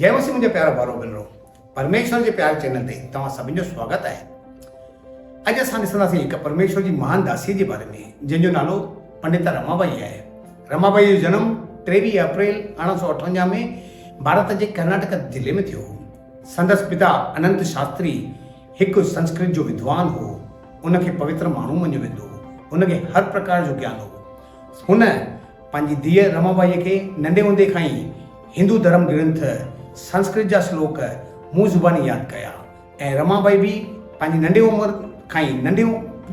جي مسيح منهنجا پيارا ڀائرو ڀينرو پرميشور جي پيار چينل تي توهان سڀن جو سواگت آهي اڄ اسان ڏسنداسين هڪ پرميشور جي مهان داسي جي باري ۾ جنهن جو نالو پنڊتا رما بائي آهي رما بائي جو جنم ٽيويهه اپريل ارڙهن سو اٺونجا ۾ ڀارت جي ڪرناٽڪ ضلعي ۾ ٿيو هو سندس پتا اننت شاستري هڪ سنسڪرت جو ودوان هو ان کي پوتر ماڻهو مڃيو ويندو هو ان کي هر پرڪار جو گيان هو هن پنهنجي ڌيء رمابائيء کي ننڍي هوندي کان ئي هندو ڌرم گرنٿ سنسڪرت جا سلوڪ منهن زباني ياد ڪيا ۽ رمابائي به پنهنجي ننڍي عمر کان ئي ننڍي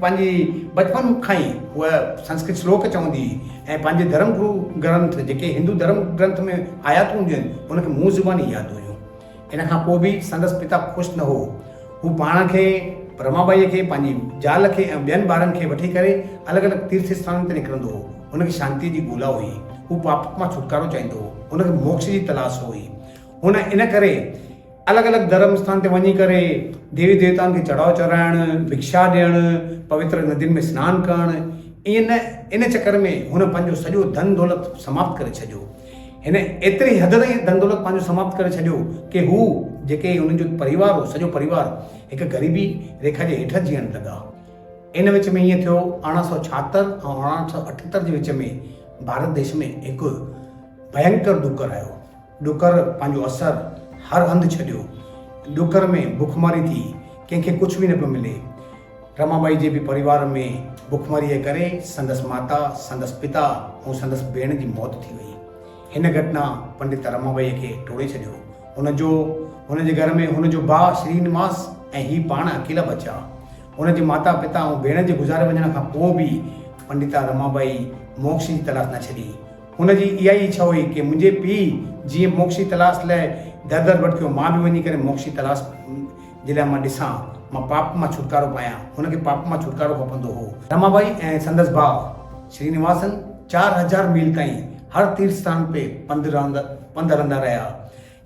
پنهنجي بچپن کان ئي هوء سنسڪرت سلوڪ چوندي هئي ۽ پنهنجي ڌرم گرو گرنٿ جيڪي هندو ڌرم گرنٿ ۾ آياتون هونديون آهن ان کي منهن زباني ياد هيون. ان کان پوء به سندس پتا خوش نه هو. هو پاڻ کي، رما ٻائيء کي، پنهنجي زال کي ۽ ٻين ٻارن کي وٺي ڪري الڳ الڳ تيرٿ اسٿانن تي نڪرندو هو. هن کي شانتيء جي ڳولا هئي. هو پاپت مان ڇوٽڪارو چاهيندو هو. هن کي موڪش جي تلاش هئي. هن ان ڪري الڳ الڳ ڌرم اسٿان تي وڃي ڪري ديوي ديوتائن کي چڙهاء چڙهائڻ، ڀڪشا ڏيڻ، پوتر ندين ۾ سنان ڪرڻ، ائين نه ان چڪر ۾ هن پنهنجو سڄو ڌن دولت سماپت ڪري ڇڏيو. هن ايتري حد تائين ڌن دولت پنهنجو سماپت ڪري ڇڏيو ڪي هو جيڪي هن جو پريوار هو سڄو پريوار هڪ غريبي ريکا جي هيٺ جيئڻ لڳا. ان وچ ۾ ائين ٿيو ارڙهن سؤ ڇاهتر ۽ ارڙهن سؤ اٺهتر جي وچ ۾ ڀارت ديش ۾ هڪ ڀينڪر ڏوڪر آيو. ڏوڪر پنهنجو اثر هر هنڌ ڇڏيو. ڏوڪر ۾ بکماري ٿي. ڪنهن کي ڪجهه به نه پيو ملي. رمابائي جي به پريوار ۾ بکمريء ڪري سندس ماتا، سندس پتا ۽ سندس ڀيڻ جي موت ٿي وئي. هن گهٽنا پنڊت رمابائيء کي ٽوڙي ڇڏيو. هن جو هن جي گهر ۾ هن جو ڀاء شرينواس ۽ هي پاڻ اڪيلا بچيا. هن جي ماتا، پتا ۽ ڀيڻ جي گذاري وڃڻ کان پوء به پنڊتا رمابائي موڪش جي تلاش نه ڇڏي. هن جي اها ئي اڇا هئي ڪي منهنجي پيء جيئن موڪش جي تلاش لاء در در ڀٽڪيو مان به وڃي ڪري موڪش جي تلاش جي لاء مان ڏسان، مان پاپ مان ڇوٽڪارو پايان، هن کي پاپ مان ڇوٽڪارو کپندو هو. رمابائي ۽ سندس ڀاء شرينواسن چار هزار ميل تائين هر تيرٿ ستان تي پنڌ هلندا رهيا.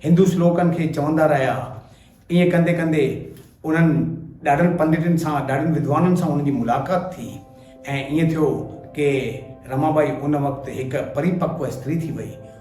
هندو سلوڪن کي چوندا رهيا. ائين ڪندي ڪندي انهن ڏاڍن پنڊتن سان، ڏاڍن ودوانن سان انهن جي ملاقات ٿي ۽ ائين ٿيو ڪي رمابائي ان وقت هڪ پريپڪو استري ٿي وئي.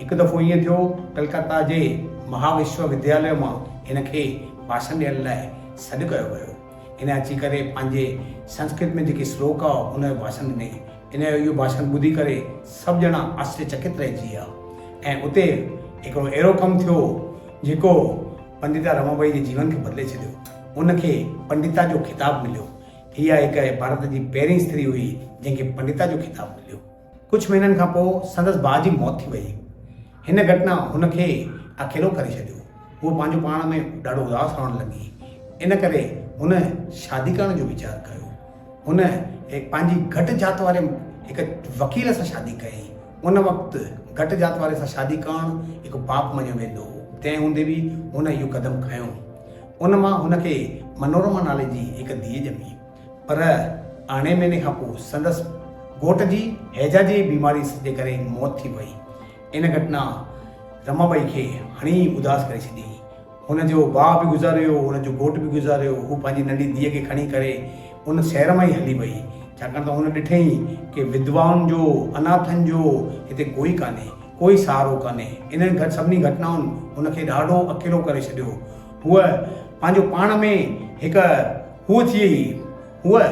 هڪ دفعو ائين ٿيو، ڪلڪتا جي مها وشو ودياليه مان هن کي ڀاشڻ ڏيڻ لاء سڏ ڪيو ويو. هن اچي ڪري پنهنجي سنسڪرت ۾ جيڪي سلوڪ هئا، ان جو ڀاشڻ ڏني. هن جو اهو ڀاشڻ ٻڌي ڪري سڀ ڄڻا آشچريه چڪت رهجي ويا ۽ اتي هڪڙو اهڙو ڪم ٿيو، جيڪو پنڊتا رمابائي جي جيون کي بدلي ڇڏيو. ان کي پنڊتا جو خطاب مليو. اها هڪ ڀارت جي پهرين استري هئي، جنهن کي پنڊتا جو خطاب مليو. ڪجهه مهينن کان پوء سندس ڀاء جي موت ٿي ويئي. هن گهٽنا هن کي اڪيلو ڪري ڇڏيو. هوء پنهنجو پاڻ ۾ ڏاڍو اداس رهڻ لڳي. ان ڪري هن شادي ڪرڻ جو ويچار ڪيو. هن پنهنجي گهٽ ذات واري هڪ وڪيل سان شادي ڪيائين. ان وقت گهٽ ذات واري سان شادي ڪرڻ هڪ پاپ مڃيو ويندو هو. تنهن هوندي به هن اهو قدم کنيو. ان مان هن کي منورما نالي جي هڪ ڌيء ڄمي. پر ارڙهين مهيني کان پوء سندس گهوٽ جي هيجا جي بيماري جي ڪري موت ٿي وئي. ان گهٽنا رما ٻائي کي هڻي ئي اداس ڪري ڇڏي. هن جو ڀاء به گذاريو، هن جو گهوٽ به گذاريو. هوء پنهنجي ننڍي ڌيء کي کڻي ڪري ان شهر مان ئي هلي وئي، ڇاڪاڻ ته هن ڏٺئي ڪي وڌوائن جو، اناٿن جو هتي ڪوئي ڪانهي، ڪوئي سهارو ڪانهي. انهن سڀني گهٽنائن هن کي ڏاڍو اڪيلو ڪري ڇڏيو. هوء پنهنجو پاڻ ۾ هڪ. هوء ٿي هئي. هوء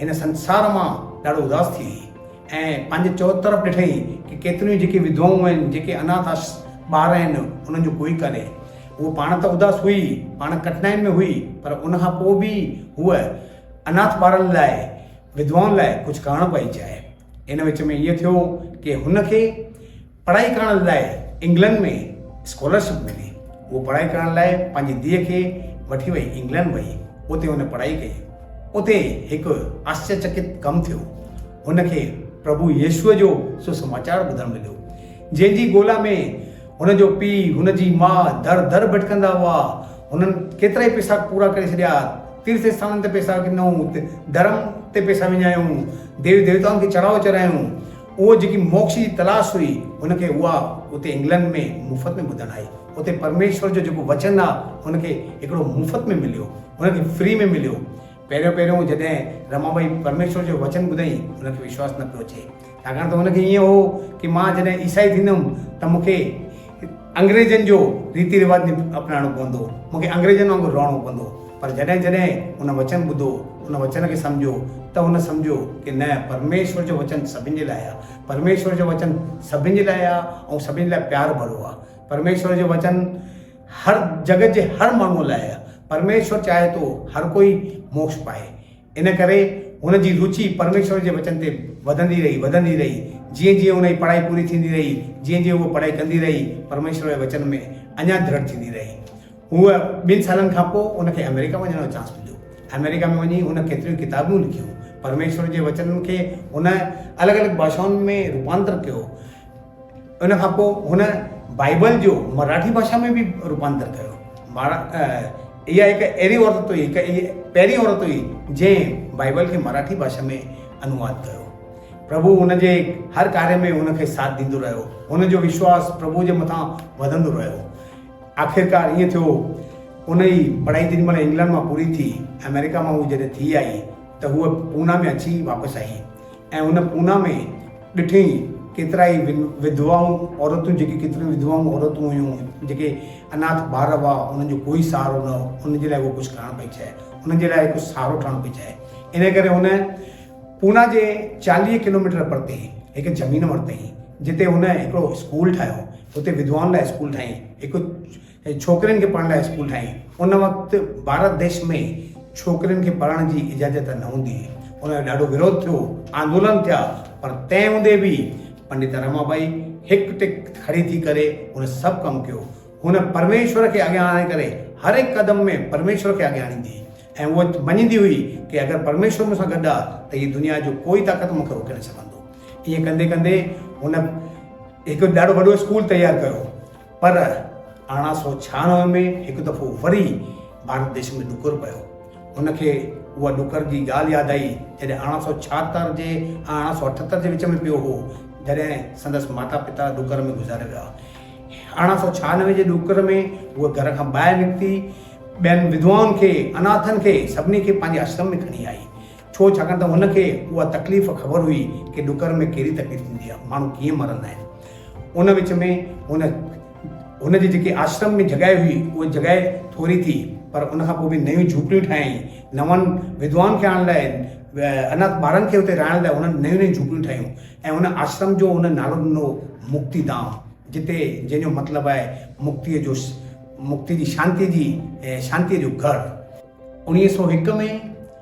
هن سنسار مان ڏاڍو اداس ٿي هئي ۽ پنهنجي چؤطرف ڏٺئي ته ڪيتريون ئي جيڪي وڌوائون آهن، جيڪي اناٿ آشرت ٻار آهن، انهن جو ڪوئي ڪانهي. هوء پاڻ ته اداس هئي، پاڻ ڪٺنائين ۾ هئي، پر ان کان پوء به هوء اناٿ ٻارن لاء، وڌوائن لاء ڪجهه ڪرڻ پئي چاهي. ان وچ ۾ ائين ٿيو ڪي هن کي. پڙهائي ڪرڻ لاء انگلنڊ ۾ اسڪالرشپ ملي. هوء پڙهائي ڪرڻ لاء پنهنجي ڌيء کي وٺي وئي انگلنڊ وئي. اتي هن پڙهائي ڪئي. اتي هڪ آشچريچڪت ڪم ٿيو. هن کي پرڀو يسوع جو سسماچار ٻڌڻ مليو، جنهن جي ڳولا ۾ هن جو پيء، هن جي ماء در در ڀٽڪندا هئا. هنن ڪيترائي پيسا پورا ڪري ڇڏيا، تيرٿ اسٿانن تي پيسا ڏنائون، ڌرم تي پيسا وڃايائون، ديوي ديوتائن کي چڙهائو چرايائون. اهو جيڪي موڪش جي تلاش هئي، هن کي اها اتي انگلنڊ ۾ مفت ۾ ٻڌڻ آئي. اتي پرميشور جو جيڪو وچن آ، هن کي هڪڙو مفت ۾ مليو. هن کي فري ۾ مليو. پهريون پهريون جڏهن رما ٻائي پرميشور جو وچن ٻڌئي، هن کي وشواس نه پيو اچي. ڇاڪاڻ ته هن کي ائين هو ڪي مان جڏهن عيسائي ٿيندم ته مون کي انگريزن جو ريتي رواج ني اپنائڻو پوندو، مون کي انگريزن وانگر رهڻو پوندو، پر جڏهن جڏهن هن وچن ٻڌو، ان وچن کي سمجهيو ته هن سمجهيو ڪي نه پرميشور جو وچن سڀن جي لاء آ، پرميشور جو وچن سڀن جي لاء آ ۽ سڀن جي لاء پيار ڀرو آ، پرميشور جو وچن هر جڳت جي هر ماڻهو لاء آ، پرميشور چاهي ٿو هر ڪوئي موڪش پائي. ان ڪري هن جي روچي پرميشور جي وچن تي وڌندي رهي، وڌندي رهي. جيئن جيئن هن جي پڙهائي پوري ٿيندي رهي، جيئن جيئن هوء پڙهائي ڪندي رهي، پرميشور جي وچن ۾ اڃا درڙ ٿيندي رهي. هوء ٻن سالن کان پوء هن کي آمريڪا وڃڻ جو چانس مليو. آمريڪا ۾ وڃي هن ڪيتريون ئي ڪتابون لکيون. پرميشور جي وچنن کي هن الڳ الڳ ڀاشائن ۾ روپانتر ڪيو. ان کان پوء هن بائيبل جو مراٺي ڀاشا ۾ به روپانتر ڪيو. اها هڪ اهڙي عورت هئي، هڪ اهڙي پهرين عورت هئي جنهن بائيبل کي مراٺي ڀاشا ۾ انواد ڪيو. پرڀو هن جي هر ڪاري ۾ هن کي ساٿ ڏيندو رهيو. هن جو وشواس پرڀو جي مٿان وڌندو رهيو. آخرڪار ائين ٿيو ان جي پڙهائي جيڏي مهل انگلنڊ مان پوري ٿي، آمريڪا مان هوء جڏهن ٿي آئي ته هوء پونا ۾ اچي واپس آئي. ۽ هن پونا ۾ ڏٺئي ڪيترائي وڌوائون عورتون جيڪي ڪيتريون وڌوائون عورتون هيون جيڪي اناٿ ٻار هئا انهن جو ڪوئي سهارو نه هو انهن جي لاء هو ڪجهه ڪرڻ پئي چاهي انهن جي لاء ڪجهه سهارو ٺهڻ پئي چاهي ان ڪري هن پونا جي چاليهه ڪلوميٽر پرتي هڪ زمين ورتئي جتي هن هڪڙو اسڪول ٺاهيو اتي وڌوائن لاء اسڪول ٺاهيائين هڪ ۽ ڇوڪرين کي پڙهڻ لاء اسڪول ٺاهين. ان وقت ڀارت ديش ۾ ڇوڪرين کي پڙهڻ جي اجازت نه هوندي هئي. ان جو ڏاڍو وروڌ ٿيو، آندولن ٿيا، پر تنهن هوندي به پنڊت رما ٻائي هڪ ٽڪ کڙي ٿي ڪري هن سڀ ڪم ڪيو. هن پرميشور کي اڳيان آڻڻ ڪري هر هڪ قدم ۾ پرميشور کي اڳيان آڻيندي هئي ۽ هوء مڃيندي هئي ڪي اگر پرميشور مون سان گڏ آ ته هيء دنيا جو ڪوئي طاقت مون کي روڪي نه سگهندو. ائين ڪندي ڪندي هن هڪ ڏاڍو وڏو اسڪول تيار ڪيو. پر ارڙهن سؤ ڇهاڻوي ۾ هڪ دفعو وري ڀارت ديش ۾ ڏڪر پيو. هن کي اها ڏڪر جي ڳالهه ياد آئي، جڏهن ارڙهن سؤ ڇاهتر جي ۽ ارڙهن سؤ اٺهتر جي وچ ۾ پيو هو، جڏهن سندس ماتا پتا ڏڪر ۾ گذاري ويا. ارڙهن سؤ ڇهاڻوي جي ڏڪر ۾ هوء گهر کان ٻاهر نڪتي، ٻين وڌوائن کي، اناٿن کي، سڀني کي پنهنجي آشرم ۾ کڻي آئي. ڇو؟ ڇاڪاڻ ته هن کي اها تڪليف خبر هئي ڪي ڏڪر ۾ ڪهڙي تڪليف ٿيندي آهي، ماڻهو ڪيئن مرندا آهن. ان وچ ۾ هن هن جي جيڪي آشرم ۾ جڳهه هئي، اها جڳهه ٿوري ٿي، پر ان کان پوء به نيون جهوپڙيون ٺاهيائين. نون ودوان کي آڻڻ لاء، اناٿ ٻارن کي اتي رهائڻ لاء هن نيون نيون جهوپڙيون ٺاهيون ۽ هن آشرم جو هن نالو ڏنو مڪتي ڌام، جتي جنهن جو مطلب آهي مڪتيء جو مڪتي جي شانتيء جي شانتيء جو گهر. اڻيهه سؤ هڪ ۾.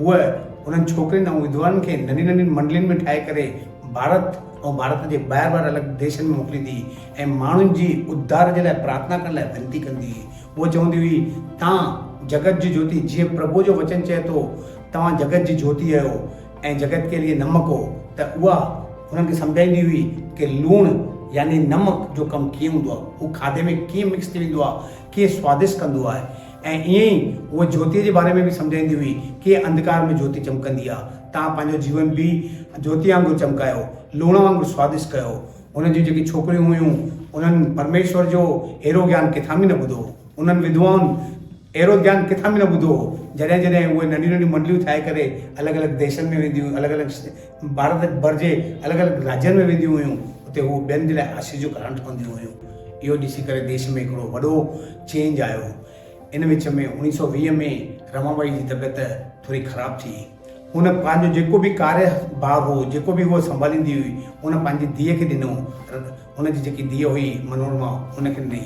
هوء انهن ڇوڪرين ۽ وڌوائن کي ننڍين ننڍين منڊلين ۾ ٺاهي ڪري ڀارت ۽ ڀارت جي ٻاهر ٻاهر الڳ ديشن ۾ موڪليندي هئي ۽ ماڻهن جي اڌار جي لاء پرارٿنا ڪرڻ لاء وينتي ڪندي هئي. هوء چوندي هئي، تان جگت جي جوتي، جيئن پرڀوء جو وچن چئي ٿو، توهان جگت جي جوتي اهيو ۽ جگت ڪي ليئي نمڪ هو ته اها هنن کي سمجهائيندي هئي ڪي لوڻ يعني نمڪ جو ڪم ڪيئن هوندو آهي، هو کاڌي ۾ ڪيئن مڪس ٿي ويندو آهي، ڪيئن سوادشٽ ڪندو آهي. ۽ ائين ئي هوء جوتيء جي باري ۾ به سمجهائيندي هئي، ڪيئن انڌڪار ۾ جوتي چمڪندي آ. تان پنهنجو جيون به جوتيء وانگر چمڪايو، لوڻ وانگر سوادشٽ ڪيو. هن جون جيڪي ڇوڪريون هيون، انهن پرميشور جو اهڙو گيان ڪٿان به نه ٻڌو هو. انهن وڌوائن اهڙو گيان ڪٿان به نه ٻڌو هو. جڏهن جڏهن اهي ننڍيون ننڍيون منڊليون ٺاهي ڪري الڳ الڳ ديسن ۾ وينديون هيون، الڳ الڳ ڀارت ڀر جي الڳ الڳ راڄن ۾ وينديون هيون اتي هو ٻين جي لاء آشيء جو ڪارڻ ٺهنديون هيون اهو ڏسي ڪري ديش ۾ هڪڙو وڏو چينج آيو ان وچ ۾ اوڻيهه سؤ ويهه ۾ رما بائي جي طبيعت ٿوري خراب ٿي هن پنهنجو جيڪو به ڪاري ڀاگ هو جيڪو به هو سنڀاليندي هئي ان پنهنجي ڌيء کي ڏنو هن جي جيڪي ڌيء هئي منورما هن کي ڏني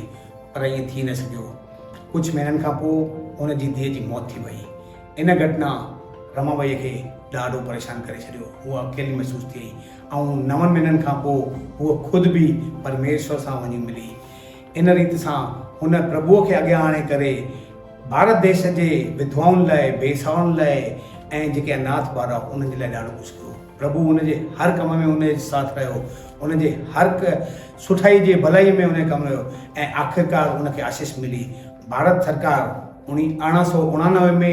پر ائين ٿي نه سگهيو ڪجهه مهينن کان پوء هن جي ڌيء جي موت ٿي وئي ان گهٽنا رمابئيء کي ڏاڍو پريشان ڪري ڇڏيو. هوء اڪيلي محسوس ٿئي ۽ نون مهينن کان پوء هوء خود به پرميشور سان وڃي ملي. ان ريت سان هن پرڀوء کي اڳيان آڻي ڪري ڀارت ديس جي وڌوائن لاء، بي سهارن لاء ۽ جيڪي اناٿ ٻار هئا انهن جي لاء ڏاڍو ڪجهه ڪيو. پرڀو هن جي هر ڪم ۾ هن جي ساٿ رهيو. هن جي هرهڪ سٺائي جي ڀلائيء ۾ هن کي ڪم رهيو ۽ آخرڪار هن کي آشيس ملي. ڀارت سرڪار. اڻيهن سؤ اڻانوي ۾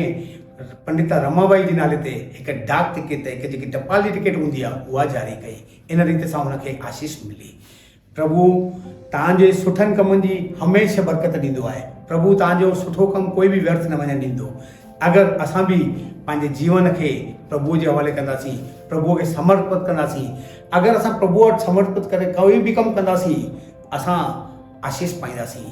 پنڊتا رما بائي جي نالي تي هڪ ڊاڪ ٽڪيٽ هڪ جيڪي ٽپال جي ٽڪيٽ هوندي آهي اها جاري ڪئي ان ريت سان هن کي آشيس ملي پرڀو تان جي سٺن ڪمن جي هميشه برڪت ڏيندو آهي پرڀو تان جو سٺو ڪم ڪوئي به ويرٿ نه وڃڻ ڏيندو اگر اسان به پنهنجي جيون کي پرڀو جي حوالي ڪنداسين پرڀو کي سمرپت ڪنداسين اگر اسان پرڀو وٽ سمرپت ڪري ڪوئي به ڪم ڪنداسين اسان آشيس پائينداسين